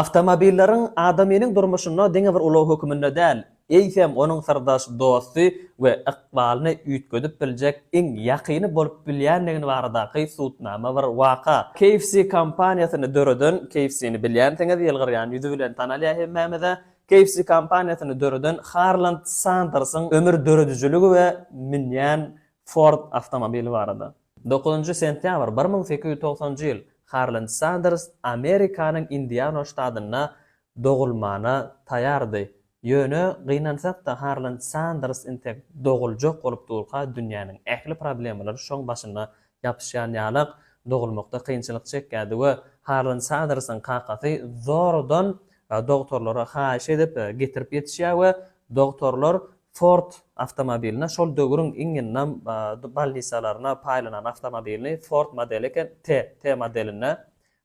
Awtomobilleriň adamynyň durmuşynda diňe bir ulag höküminde däl, eýsem, onuň syrdaş dosty we ykbalyny üýtgedip biljek iň ýakyny bolup bilýänligi baradaky subutnama bir waka. KFC kompaniýasyny döreden, KFC-ni bilýänsiňiz, ýylgyrýan ýüzi bilen tanalýar hemmämize. KFC kompaniýasyny döreden Harland Sandersiň ömür döredijiligi we münýän Ford awtomobili barada. Dokuzynjy sentýabr bir müň sekiz ýüz togsanjy ýyl Harland Sanders Amerikanyň Indiana ştatynda dogulmana taýýardy. Ýöne gynansak-da Harland Sanders intek doguljak bolup durka dünýäniň ähli problemalary şoň başyna ýapyşýan ýalak dogulmakda kynçylyk çekýärdi we Harland Sandersiň kakasy zordan dogtorlara haýyş edip getirip ýetişýär we dogtorlar Ford awtomobilini, şol döwrüň iň ýyndam bolnisalaryna paýlanan awtomobilini, Ford modeli eken, T, T modeline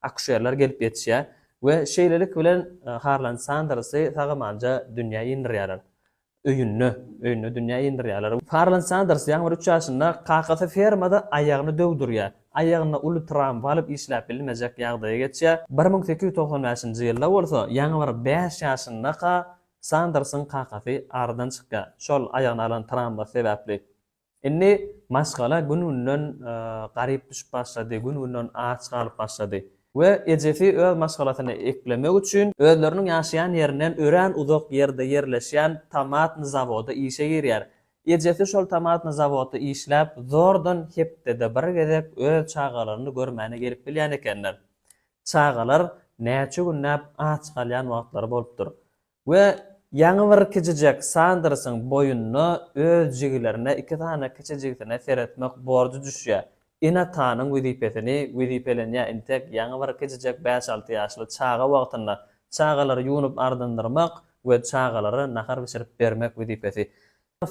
akuşerler gelip ýetişýär we şeýlelik bilen Harlan Sandersy sag-amanja dünýä indirýärler. Öýünde, öýünde dünýä indirýärler. Harlan Sanders ýaňy bir üç ýaşynda kakasy fermada aýagyny döwdürýär. Aýagyna uly tram balyp işläp bilmejek ýagdaýa geçýär. Bir müň sekiz ýüz togsan bäşinji ýylda bolsa, ýaňy bir bäş ýaşyndaka Sandersiň kakasy aradan çykýar, şol aýagyna alan trawmasy sebäpli. Indi maşgala gün-günden garyp düşüp başlady, gün-günden aç galyp başlady. We ejesi öz maşgalasyny eklemek üçin, özleriniň ýaşaýan ýerinden örän uzak ýerde ýerleşýän tomatny zawoda işe girýär. Ejesi şol tomatny zawodda işläp, zordan hepdede bir gezek öz çagalaryny görmäne gelip bilýän ekenler. Çagalar näçe günläp aç galýan wagtlary bolupdyr we ýaňy bir kiçijek Sandersiň boýnuna öz jigilerine iki sany kiçi jigisine seretmek borjy düşýär. Ene-atanyň wezipesini wezipelenýär intek ýaňy bir kiçijek bäş-alty ýaşly çaga wagtynda çagalary ýuwnup-ardandyrmak we çagalara nahar bişirip bermek wezipesi.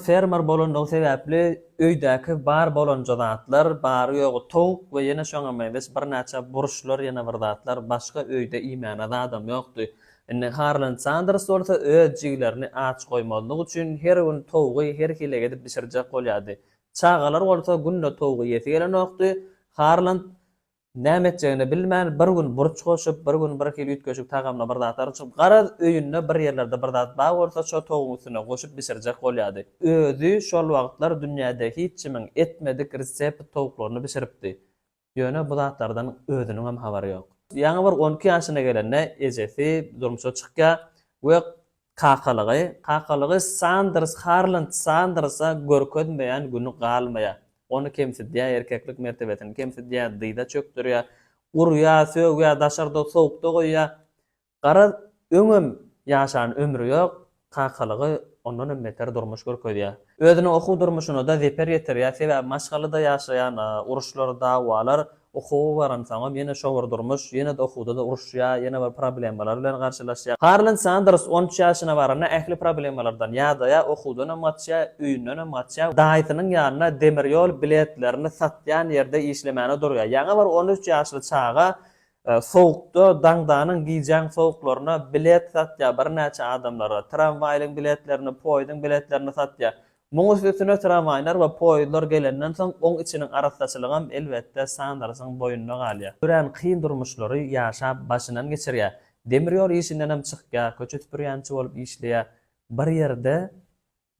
Fermer bolandygy sebäpli öýdäki bar bolanja zatlar, bary-ýogy towuk we ýene şoňa meňzeş birnäçe burçlar, ýene bir zatlar, başga öýde iýmäne zadam ýokdy. Indi Harlan Sanders bolsa öz jigilerini aç goýmazlyk üçin her gün towugy her hili edip bişirjek bolýardy. Çagalar bolsa günde towugy ýesi gelenokdy. Harlan Näme etjegini bilmän, bir gün burç goşup, bir gün birhili üýtgeşik tagamly bir zatlar içip, garaz, öýünde bir ýerlerde bir zat bar bolsa, şo towugyň üstüne goşup bişirjek bolýardy. Özi şol wagtlar dünýäde hiç kimiň etmedik resept towuklaryny bişiripdi. Ýöne bu zatlardan özüniňem habary ýok. Ýaňy bir on iki ýaşyna gelende ejesi durmuşa çykýar we Kakalygy, kakalygy Sanders Harland Sandersa görkezmeýän güni galmaýar. Ony kemsidýär, erkeklik mertebesini kemsidýär, dyza çökdürýär, urýar, sögýär, daşarda sowukda goýýar. Garaz, öňem ýaşan ömri ýok, kakalygy ondan hem beter durmuş görkezýär. Özüniň okuw durmuşyna-da zeper ýetirýär, sebäbi maşgalada ýaşaýan uruşlar, dawalar Okuwa baransoňam ýene şo bir durmuş, ýene-de okuwda-da uruşýar, ýene bir problemalar bilen garşylaşýar. Harlan Sanders on üç ýaşyna baranda ähli problemalardan ýadaýar, okuwdanam gaçýar, öýündenem gaçýar, daýysynyň ýanynda demir ýol biletlerini satýan ýerde işlemäne durýar. Ýaňy bir on üç ýaşly çaga sowukda, daňdanyň, gijäň sowuklaryna bilet satýar birnäçe adamlara, tramwaýlyň biletlerini, poýzuň biletlerini satýar. Muň üstesine tramwaýlar we poýezdler gelenden soň oň içiniň arassaçylygam elbetde Sandersiň boýnuna galýar. Örän kyn durmuşlary ýaşap başyndan geçirýär. Demir ýol işindenem çykýar, köçe süpürýänçi bolup işleýär. Bir ýerde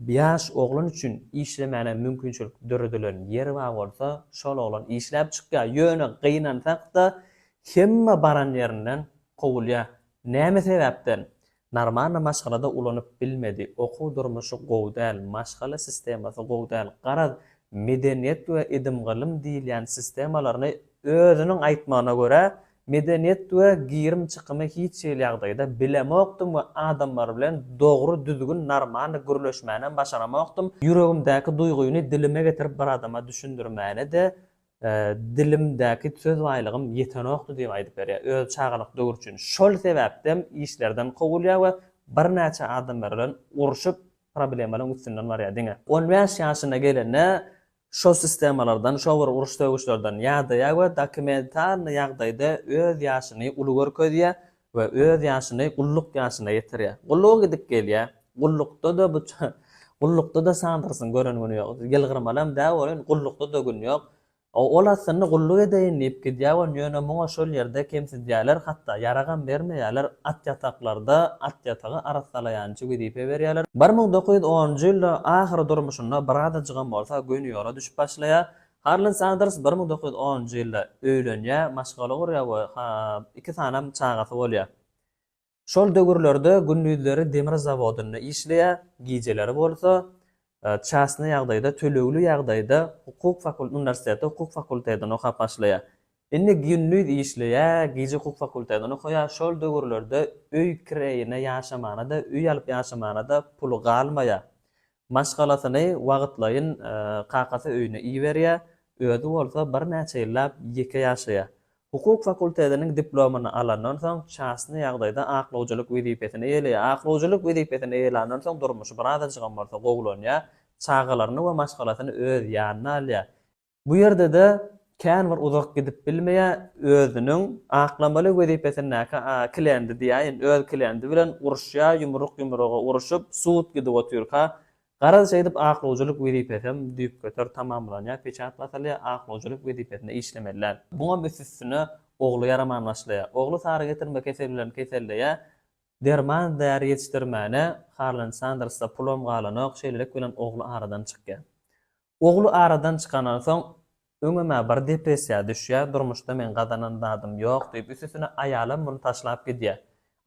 ýaş oglan üçin işlemäne mümkinçilik döredilen ýer bar bolsa, şol oglan işläp çykýar. Ýöne gynansak-da hemme baran ýerinden kowulýar. Näme sebäpden? Narmarny maşgalada ulanyp bilmedi, okuw durmuşy gowy däl, maşgala sistemasy gowy däl, garaz medeniýet we idim-gylym diýilýän sistemalaryny özüniň aýtmagyna görä medeniýet we girim-çykymy hiç hili ýagdaýda bilemokdym we adamlar bilen dogry düzgün narmarny gürleşmänem başaramokdym, ýüregimdäki duýgyny dilime getirip bir adama düşündirmäne-de Dilimdäki söz baýlygym ýetenokdy diýip aýdyp berýär. Öz çagalyk döwri üçin şol sebäpdem işlerden kowulýar we birnäçe adamlar bilen urşup problemalaň üstünden barýar diňe. On bäş ýaşyna gelende şo sistemalardan şo bir uruş-sögüşlerden ýadaýar we dokumentalnyý ýagdaýda öz ýaşyny uly görkezýär, we öz ýaşyny gulluk ýaşyna ýetirýär. Gulluga gidip gelýär. Gullukda-da bu gullukda-da sandyrsyn gören güni ýok. Ýylgyrmalam däl welin gullukda-da gün ýok. Ol aslynda gulluk edeýin diýip gidýär welin ýöne muňa şol ýerde kemsidýärler hatda ýaragam bermeýärler. At ýataklarda at ýatagy arassalaýançy wezipe berýärler. Bir müň dokuz ýüz onunjy ýylda ahyry durmuşynda birazajygam bolsa göni ýola düşüp başlaýar. Harlan Sanders bir müň dokuz ýüz onunjy ýylda öýlenýär, maşgala gurýar we iki sanam çagasy bolýar. Şol döwürlerde gündizleri demir zawodynda işleýär, gijeleri bolsa çastny ýagdaýda, tölegli ýagdaýda hukuk fakultetinde, uniwersitetde hukuk fakultetinde okap başlaýar. Indi gündiz işleýär, gije hukuk fakultetinde okaýar. Şol döwürlerde öý kireýine ýaşamana-da, öý alyp ýaşamana-da puly galmaýar. Maşgalasyny wagtlaýyn kakasy öýüne iberýär, özi bolsa birnäçe ýyllap ýeke ýaşaýar. Hukuk fakultetiniň diplomyny alandan soň, çasny ýagdaýda aklawjylyk wezipesini eýeleýär. Aklawjylyk wezipesini eýelandan soň durmuşy birazajygam bolsa gowulanýar, çagalaryny we maşgalasyny öz ýanyna alýar. Bu ýerde-de kän bir uzak gidip bilmeýär, özüniň aklamaly wezipesindäki kilendi diýäýin, öz kilendi bilen uruşýar, ýumruk ýumruga uruşyp, sud gidip otyrka, garaz şeýdip aklawjylyk wezipesem düýpgöter tamamlanýar, peçat basylýar, aklawjylyk wezipesinde işlemeli däl. Muňam üst-üstüne ogly ýaraman başlaýar. Ogly sary getirme keseli bilen keselleýär, derman-däri ýetişdirmäne Harlan Sandersda pulam galanok, şeýlelik bilen ogly aradan çykýar. Ogly aradan çykandan soň, öňem-ä bir depressiýa düşýär, durmuşda meň gazanan zadym ýok diýip, üstesine aýalam muny taşlap gidýär.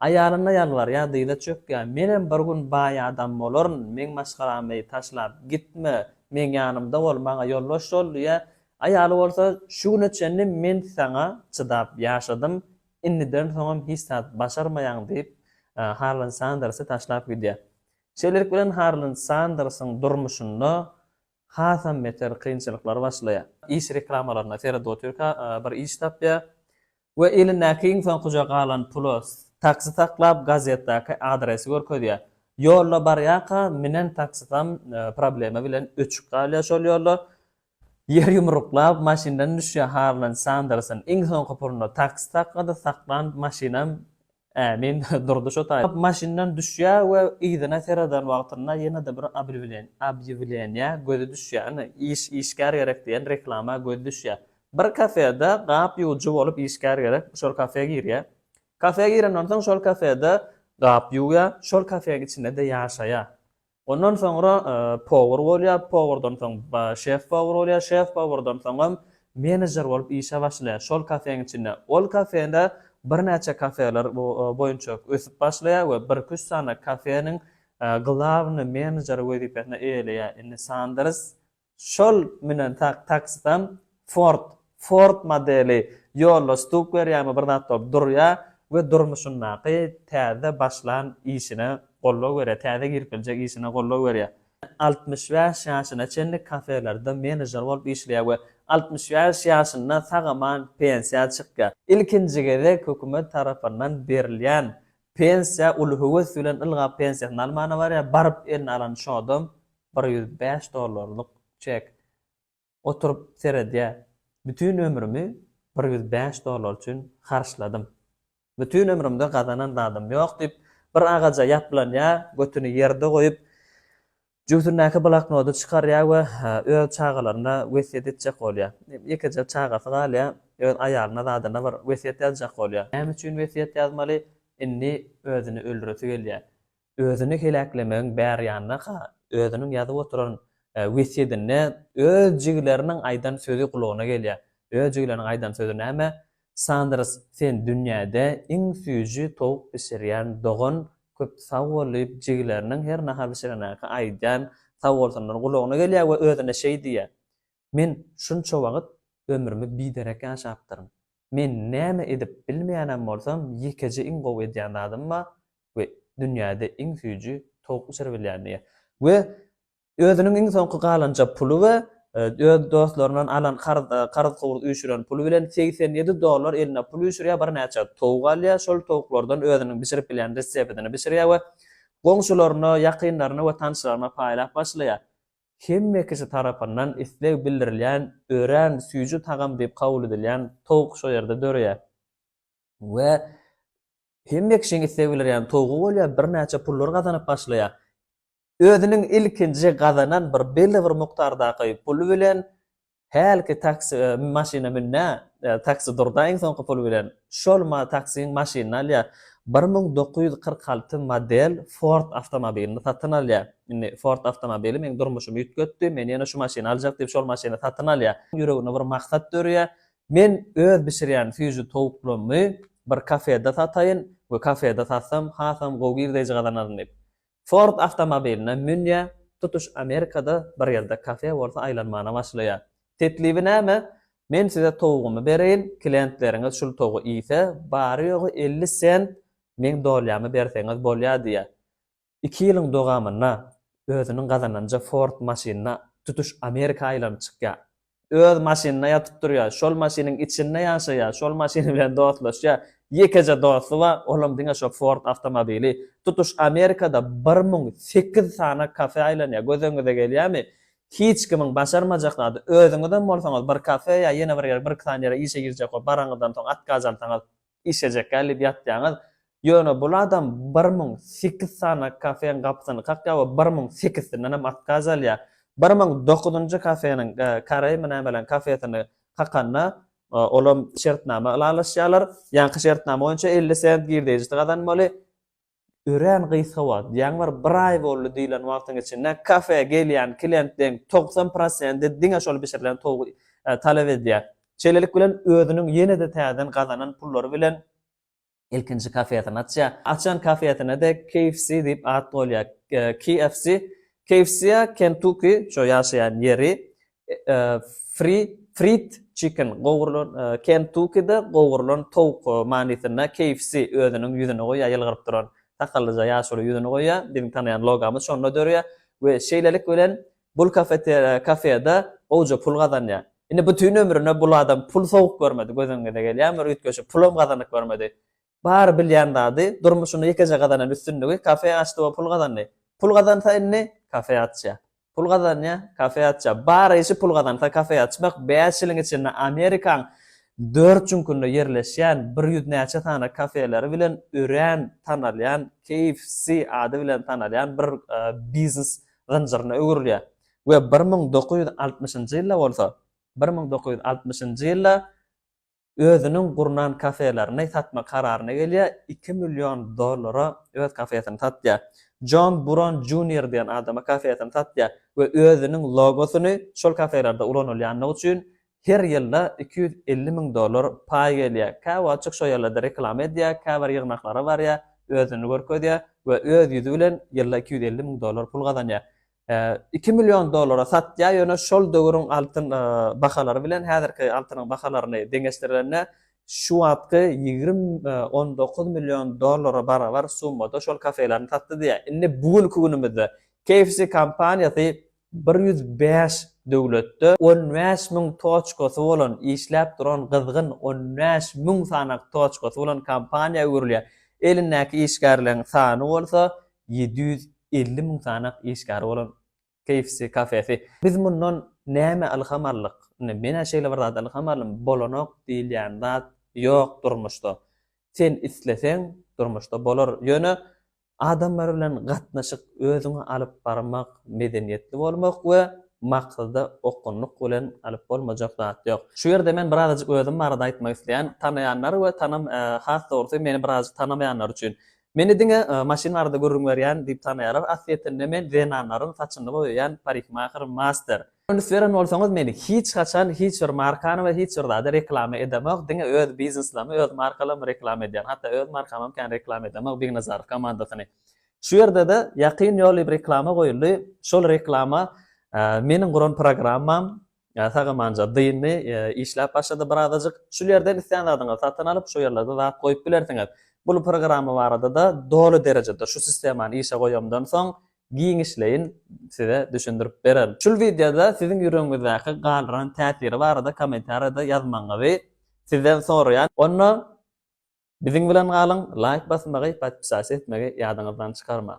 Aýalyna ýalbarýar, dyza çökýär, Menem bir gün baý adam bolaryn, meň maşgalamy taşlap gitme, meň ýanymda bol, maňa ýoldaş bol diýýär. Aýaly bolsa, Şu güne çenli men saňa çydap ýaşadym, indiden soňam hiç zat başarmaýaň diýip, Harlan Sandersy taşlap gidýär. Şeýlelik bilen Harlan Sandersiň durmuşynda hasam beter kynçylyklar başlaýar. Iş reklamalaryna seredip otyrka bir iş tapýar we elindäki iň soňkuja galan pula taksi saklap gazetdaky adresi görkezýär. Ýolda barýarka münen taksisam problema bilen öçüp galýar şol ýolda. Ýer ýumruklap maşyndan düşýär Harlan Sandersiň iň soňky puluna taksi saklady, saklan maşynam Ämin, Durdy şo taýda maşyndan düşýär we yzyna sereden wagtynda ýene-de bir obýewleniýä gözi düşýär. Ine, iş, işgär gerek diýen reklama gözi düşýär. Bir kafede gap ýuwujy bolup işgär gerek, şol kafe girýär. Kafe girenden soň şol kafede gap ýuwýar, şol kafeň içinde-de ýaşaýar. Ondan soňra powar bolýar, powardan soň şef-powar bolýar, şef-powardan soňam menejer bolup işe başlaýar şol kafeň içinde. Ol kafede birnäçe kafeler boýunça ösüp başlaýar we birki-üç sany kafeniň glawnyý menejeri wezipesini eýeleýär. Indi Sanders Şol münen taksisam Ford, Ford modeli ýolda stuk berýärmi bir zat bolup durýa we durmuşyndaky täze başlan işine goldaw berýä, täze girip biljek işine goldaw berýä. Altmyş bäş ýaşyna çenli kafelerde menejer bolup işleýär we altmyş bäş ýaşynda sag-aman pensiýa çykýa. Ilkinji gezek hökümet tarapyndan berilýän pensiýa uly höwes bilen ylgap pensiýasyny almana barýa, baryp eline alan şodam bir ýüz bäş dollarlyk çek. Oturyp seredýä, bütin ömrümi bir ýüz bäş dollar üçin harçladym. Bütin ömrümde gazanan zadym ýok diýip, bir agaja ýaplanýa, götüni ýerde goýup, jübüsindäki bloknody çykarýa we öz çagalaryna wesýet etjek bolýa. Ýekeje çagasy galýa, öz aýalyna zadyna bir wesýet ýazjak bolýa. Näme üçin wesýet ýazmaly? Indi özüni öldüresi gelýä. özüni heläklemegiň bär ýanyna-ha özüniň ýazyp oturan wesýedinde öz jigileriniň aýdan sözi gulagyna gelýär. Öz jigileriniň aýdan sözi näme? Sanders, sen dünýäde iň süýji towuk bişirýän dogan, köp sag bol diýip jigileriniň her nahar bişirenäki aýdýan sag bolsunlary gulagyna gelýär we özüne şeý diýýär, Men şunça wagt ömrümi biderek ýaşapdyryn. Men näme edip bilmeýänem bolsam ýekeje iň gowy edýän zadym bar we dünýäde iň süýji towuk bişiribilýän diýýär. We özüniň iň soňky galanja puly we öz dostlaryndan alan karzkowuz üýşüren puly bilen segsen ýedi dollar eline pul üýşürýär birnäçe towuk alýar şol towuklardan özüniň bişirip bilýän resepidini bişirýär we goňşularyna ýakynlaryna we tanşlaryna paýlap başlaýar. Hemme kişi tarapyndan isleg bildirilýän örän süýji tagam diýip kabul edilýän towuk şo ýerde döreýär. We hemme kişiň isleg bildirýän towugy bolýar, birnäçe pullar gazanyp başlaýar. Özüniň ilkinji gazanan bir belli bir mukdardaky puly bilen Hälki taksi maşyna münnä, taksi durda iň soňky pul bilen. Şol ma taksiň maşynyny alýa. Bir müň dokuz ýüz kyrk alty model Ford awtomobilini satyn alýa. Indi Ford awtomobili meň durmuşymy üýtgetdi, men ýene şu maşyny aljak diýip şol maşyny satyn alýa. Ýüreginde bir maksat dörýä. Men öz bişirýän süýji towuklarymy bir kafede sataýyn we kafede satsam hasam gowy girdeýji gazanaryn diýip. Ford awtomobiline münýär, tutuş Amerikada bir ýerde kafe bolsa aýlanmana başlaýar. Teklibi näme? Men size towugymy bereýin, klientleriňiz şul towugy iýse, bary-ýogy elli sent meň dolýamy berseňiz bolýar diýýär. Iki ýylyň dogamynda özüniň gazananja Ford maşynyna tutuş Amerika aýlanyp çykýar. öz maşynynda ýatyp durýar, şol maşynyň içinde ýaşaýar, şol maşyny bilen dostlaşýar. Ýekeje dosty bar, olam diňe şo Ford awtomobili. Tutuş Amerikada bir müň sekiz sany kafe aýlanýar. Gözüňize gelýärmi? Hiç kimiň başarmajak zady. Özüňizem bolsaňyz bir kafe ýa ýene bir ýere, birki sany ýere işe girjek bolup baraňyzdan soň, otgaz alsaňyz, Işejekä diýip ýatýaňyz. Ýöne bul adam bir müň sekiz sany kafeň gapysyny kakýar we bir müň sekizsindenem otkaz alýar. Bir müň dokuzynjy kafeniň, Kareými nämeleň kafesini kakanda, olam şertnama ylalaşýarlar. Ýaňky şertnama boýunça elli sent girdeýjisi gazanmaly. örän gysga wagt, diýýän bir bir aý boldy diýlen wagtyň içinde kafe gelýän klientleň togsan prosenti diňe şol bişirilen towugy talap edýär. Şeýlelik bilen özüniň ýene-de täzeden gazanan pullary bilen ilkinji kafesyny açýar. Açan kafesine-de KFC diýip at goýulýar. KFC, KFC-a Kentuki, şo ýaşaýan ýeri, Fried chicken, gowrulan, Kentukide gowrulan towuk manysynda KFC özüniň ýüzüni goýýar, ýylgyryp duran sakallyja ýaşuly ýüzüni goýýar, biziň tanaýan logomyz şonda dörýär we şeýlelik bilen bul kafeda gowja pul gazanýar. Indi bütin ömrüne bul adam pul sowuk görmedi, gözüňize gelýärmi, üýtgeşik pulam gazanyp görmedi. Bary bilýän zady, durmuşyny ýekeje gazanan üstünligi, kafe açdy we pul gazandy. Pul gazansa indi, kafe açýar. Pul gazanýar, kafe açýar. Bar işi pul gazansa kafe açmak, bäş ýylyň içinde Amerikaň dört çüňkünde ýerleşýän bir ýüz näçe sany kafeleri bilen örän tanalýan KFC ady bilen tanalýan bir biznes zynjyryna öwrülýär we bir müň dokuz ýüz altmyşynjy ýylda bolsa, bir müň dokuz ýüz altmyşynjy ýylda özüniň gurnan kafelerini satmak kararyna gelýär, iki million dollara öz kafesini satýar. Jon Buron Junior diýen adama kafesini satýar we özüniň logosyny şol kafelerde ulanylýandygy üçin her ýylda iki ýüz elli müň dollar paý gelýär. Käwagtjyk şo ýerlerde reklama edýär, käbir ýygnaklara barýar, özüni görkezýär we öz ýüzi bilen ýylda iki ýüz elli müň dollar pul gazanýar. Iki million dollara satýar, ýöne şol döwrüň altyn bahalary bilen häzirki altynyň bahalaryny deňeşdirende, şu wagtky ýigrimi on dokuz million dollara barabar summada şol kafelaryny satdy diýýär. Indi bu günki günümizde KFC kompaniýasy bir ýüz bäş döwletde on bäş müň toçkasy bolan, işläp duran gyzgyn on bäş müň sanaky toçkasy bolan kompaniýa öwrülýär. Elindäki işgärleriň sany bolsa ýedi ýüz elli müň sanak işgäri bolan KFC kafesi. Biz mundan näme ylham aldyk? Indi men-ä şeýle bir zada ylham aldym, bolanok diýilýän zat ýok durmuşda. Sen isleseň, durmuşda bolar. Ýöne adamlar bilen gatnaşyk, özüňi alyp barmak, medeniýetli bolmak we maksada okunlyk bilen alyp bolmajak zat ýok. Şu ýerde men birazajyk özüm barada aýtmak isleýän, tanaýanlar we tanam has dogrusy meni birazajyk tanamaýanlar üçin. Meni diňe maşyn arada gürrüň berýän diýip tanaýarlar, aslyýetinde men zenanlaryň saçyny boýaýan parikmaher master. Üns beren bolsaňyz meni hiç haçan hiç bir markany we hiç bir zady reklama edemok, diňe öz bizneslamy öz markalamy reklama edýän, hatda öz markamam kän reklama edemok Bignazarow komandasyny. Şu ýerdede ýakyn ýoly reklama goýuldy, şol reklama meniň guran programmam, Sagamanja dyndy, işläp başlady birazajyk. Şul ýerden islän zadyňyzy satyn alyp, şo ýerlerde zat goýup bilersiňiz. Bul programma barada-da doly derejede şu sistemany işe goýamdan soň giňişleýin size düşündirip bererin. Şul wideoda siziň ýüregiňizdäki galdyran täsiri barada kommentariýada ýazmagyňyzy sizden soraýan. Onda biziň bilen galyň, laýk basmagy, podpisasiýa etmegi ýadyňyzdan çykarmaň.